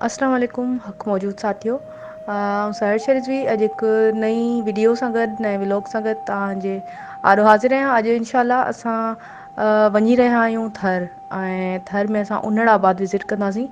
السلام عليڪم حق موجود ساٿيو آئون سهر شرجوي اڄ هڪ نئي وڊيو سان گڏ نئين ولاگ سان گڏ تان جي آڏو حاضر آهيان اڄ انشاء الله اسان وڃي رهيا آهيون ٿر ۽ ٿر ۾ اسان انڙ آباد وزٽ ڪنداسين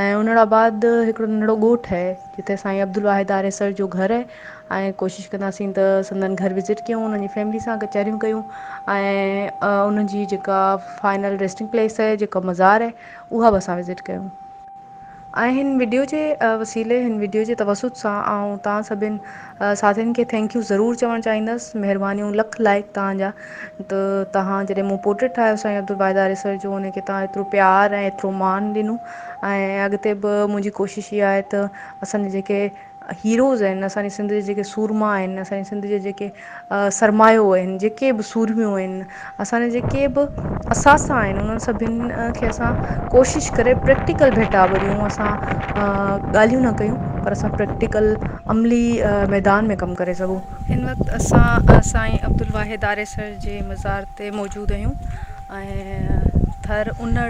۽ انڙ آباد هڪڙو ننڍڙو ڳوٺ آهي جتي سائين عبدالواحد آريسر جو گهر آهي ۽ ڪوشش ڪنداسين ته سندن گهر وزٽ ڪيون انهن جي فيملي سان ڪچهريون ڪيون ۽ انهن جي جيڪا فائنل ريسٽنگ پليس آهي جيڪا مزار آهي اها به اسان وزٽ ڪيون ۽ هن وڊيو جي وسيلي هن وڊيو جي توسط سان آئون توهان سڀن ساٿين کي ٿينڪ يو ضرور چوڻ چاهيندس مهربانيون لک لائق توهان جا ته توهان جڏهن مون پورٽريٽ ٺاهيو سائين عبدالواحد آريسر جو ان کي توهان ايترو پيار ۽ ايترو مان ڏنو ۽ اڳتي به منهنجي ڪوشش اها آهي ته اسان جي جيڪي هيروز آهن اسان جي سنڌ جي جيڪي سورما آهن اسان جي سنڌ جي جيڪي سرمايو آهن جيڪي به سورميون آهن اسان جا جيڪي به اثاثا آهن انهن سڀن کي اسان ڪوشش ڪري پريڪٽيڪل ڀيٽا ڀريون اسان ڳالهيون نه ڪيون پر اسان پريڪٽيڪل عملي ميدان ۾ ڪم ڪري سگهون هن وقت اسان سائين عبدالواحد آريسر جي مزار تي موجود آهيون ۽ ٿر انڙ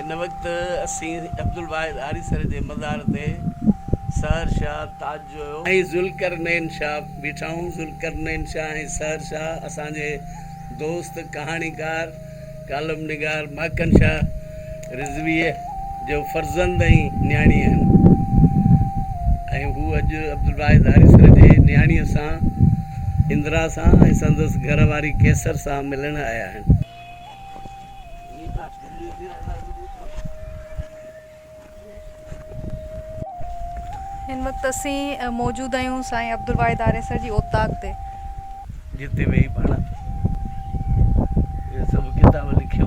هن وقت اسين عبدالواحد آريسر جي مزار تي سحر شاهه تاج جويو ۽ ذوالقرنين شاهه بيٺا هئون. ذوالقرنين شاهه ۽ سحر شاهه اسان جي دوست ڪهاڻيڪار ڪالم نگار ماڪن شاهه رضويء جو فرزند ۽ نياڻي آهن ۽ هو اڄ عبدالواحد آريسر جي نياڻيء سان اندرا سان ۽ سندس گهر واري قيصر سان ملڻ آيا آهن. هن وقت اسين موجود آهيون سائين عبدالواحد آريسر جي اوطاق تي. جتي ويهي پاڻ اهي سڀ ڪتاب لکيو.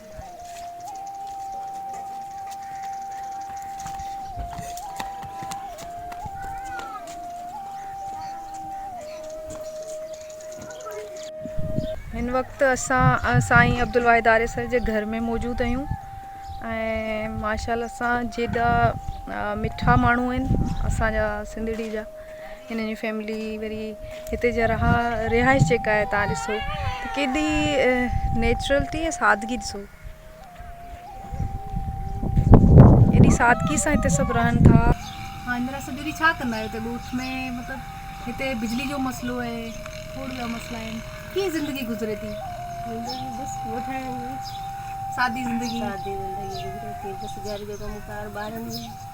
هن وقت اسان سائين عبدالواحد آريسر جي گھر ۾ موجود آهيون ۽ ماشاء الله سان جيڏا مٺا ماڻهو آهن اسانجا سنڌڙي جا هنن جي فيملي وري هتي جا رها رهائش جيڪا آهي تان ڏسو ته ڪيڏي نيچرلٽي ۽ سادگي ڏسو ايڏي سادگي سان هتي سڀ رهن ٿا ها اندر سڄو ڏينهن ڇا ڪندا آهيو هتي ڳوٺ ۾ مطلب هتي بجلي جو مسئلو آهي ڪوڙ جا مسئلا آهن ڪيئن زندگي گذري ٿي سادي زندگي سادي زندگي گذري ٿي بس گهر جو ڪم ڪار ٻارن جو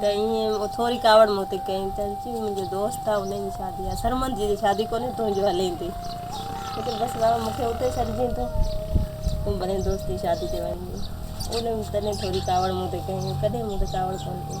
ته ائين ٿوري ڪاوڙ مون تي ڪيائين ته چيو منهنجو دوست آ انهي جي شادي آ سرمد جي شادي ڪونهي تنهنجو هلين ٿي ته بس بابا مون کي اتي ڇڏجين ته تون بنهي دوست جي شادي تي وڃجين انهي تڏهن ٿوري ڪاوڙ مون تي ڪيائين ڪڏهن مون تي ڪاوڙ ڪون ڪئي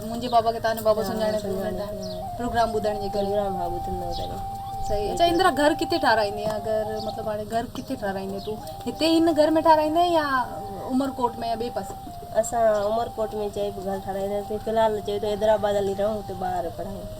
منهنجي بابا کي تنهنجو بابو سڃاڻي ٿو هن ٽائيم پروگرام ٻڌڻ جي ڪري پروگرام ها ٻڌندو ڪري صحيح اچا اندرا گهر ڪٿي ٺارايندي اگر مطلب هاڻي گهر ڪٿي ٺارايندي تون هتي هن گهر ۾ ٺارايندي يا عمر ڪوٽ ۾ يا ٻي پاسي اسان عمر ڪوٽ ۾ چئي به گهر ٺاراينداسين في الحال چئي ته حيدرآباد هلي رهون هتي ٻار پڙهائون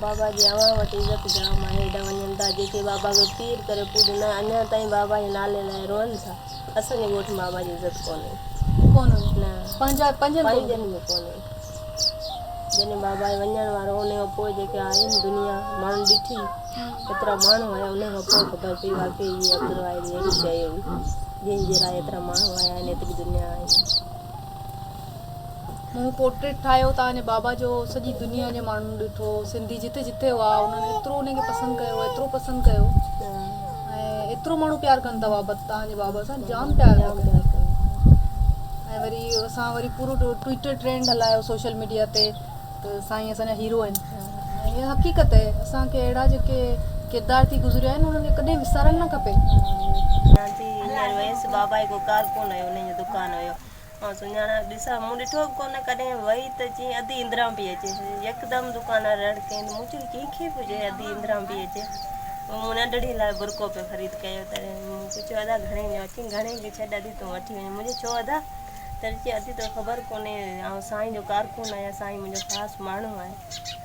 بابا جي اوهان وٽ عزت جام آهي هيڏا وڃن ٿا جيڪي بابا کي پير ڪري پوڄن ٿا اڃان تائين بابا جي نالي لاء روئن ٿا اسان جي ڳوٺ ۾ بابا جي عزت ڪونهي ڪونهي نه پنهنجا پنهنجن کي پنهنجن ۾ ڪونهي جڏهن بابا جي وڃڻ وارو انهي کان پوء جيڪي آئين دنيا ماڻهن ڏٺي ايترا ماڻهو آيا انهي کان پوء خبر پئي واقعي هي عبدالواحد اهڙي شيء هئي جنهن جي لاء ايترا ماڻهو آيا آهن ايتري دنيا آئي مون پورٽريٽ ٺاهيو توهان جي بابا جو سڄي دنيا جي ماڻهن ڏٺو سنڌي جتي جتي هئا انهن ايترو ان کي پسند ڪيو ايترو پسند ڪيو ۽ ايترو ماڻهو پيار ڪن ٿا بابا توهان جي بابا سان جام پيار ٿا ڪن ۽ وري اسان وري پورو ٽوئيٽر ٽرينڊ هلايو سوشل ميڊيا تي ته سائين اسان جا هيرو آهن ۽ اها حقيقت آهي اسانکي اهڙا جيڪي ڪردار ٿي گذريا آهن انهن کي ڪڏهن وسارڻ نه کپي آئون سڃاڻان ڏسان، مون ڏٺو به ڪونه، ڪڏهن وئي ته چين ادي اندران پئي اچي، يڪدم دڪاندار رڙ ڪيائين ته مون چيو ڪنهن کي به چئي ادي اندران پئي اچي، پوء مون ننڍڙي لاء برقعو پئي خريد ڪيو، تڏهن مون پڇيو ادا گهڻي ڏيان، چيائين گهڻي کي ڇڏ ادي تون وٺي وڃ، مون چيو ڇو ادا، تڏهن چيائين ادي توکي خبر ڪونهي آئون سائين جو ڪارڪن آهيان، سائين منهنجو خاص ماڻهو آهي.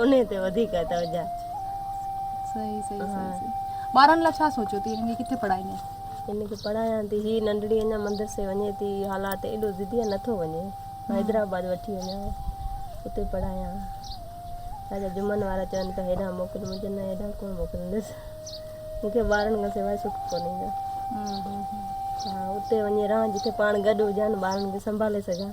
انهي تي وڌيڪ توجه. صحيح صحيح صحيح ٻارن لاء ڇا سوچيو ٿي هن کي ڪٿي پڙهائيندين. هن کي پڙهايان ٿي هي ننڍڙي اڃا مدرسي وڃي ٿي حالات ايڏو ضدي آ نٿو وڃي حيدرآباد وٺي وڃان اتي پڙهايان ڇاجي جمن وارا چون پيا هيڏانهن موڪل مون چيو نه هيڏانهن ڪونه موڪلندس مون کي ٻارن کان سواء سک ڪونهي ايندو ها اتي وڃي رهان جتي پاڻ گڏ هجان ٻارن کي سنڀالي سگهان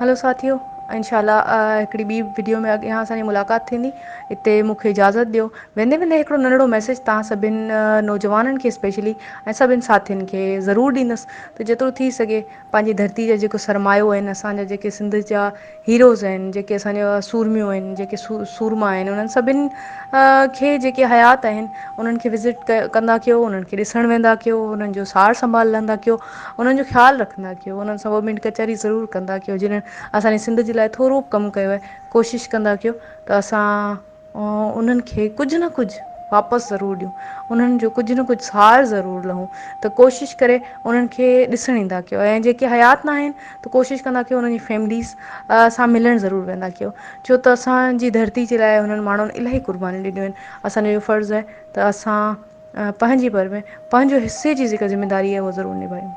هلو ساٿيو انشاء الله هڪڙي ٻي وڊيو ۾ اڳيان اسان جي ملاقات ٿيندي اتي مون کي اجازت ڏيو ويندي ويندي هڪڙو ننڍڙو ميسيج تان سڀن نوجوانن کي اسپيشلي ۽ سڀن ساٿين کي ضرور ڏيندس ته جيترو ٿي سگهي پنهنجي ڌرتي جا جيڪو سرمايو آهن اسان جا جيڪي سنڌ جا هيروز آهن جيڪي اسان جا سورميون آهن جيڪي سورما آهن انهن سڀن کي جيڪي حيات آهن انهن کي وزٽ ڪندا ڪيو انهن کي ڏسڻ ويندا ڪيو انهن جو سار سنڀال لهندا ڪيو انهن جو خيال رکندا ڪيو انهن سان ٻه منٽ ڪچهري ضرور ڪندا ڪيو جنهن اسان جي سنڌ جي لاء ٿورو ڪم ڪيو آهي ڪوشش ڪندا ڪيو ته اسان انهن کي ڪجهه نه ڪجهه واپس ضرور ڏيون انهن جو ڪجهه نه ڪجهه سار ضرور لهون ته ڪوشش ڪري انهن کي ڏسڻ ايندا ڪيو ۽ جيڪي حيات ن آهن ته ڪوشش ڪندا ڪيو انهن جي فيمليز سان ملڻ ضرور ويندا ڪيو ڇو ته اسانجي ڌرتي جي لاء هنن ماڻهن الاهي قربانيون ڏنيون آهن اسانجو اهو فرض آهي ته اسان پنهنجي بر ۾ پنهنجو حصي جي جيڪا ذميداري آهي اها ضرور نڀايون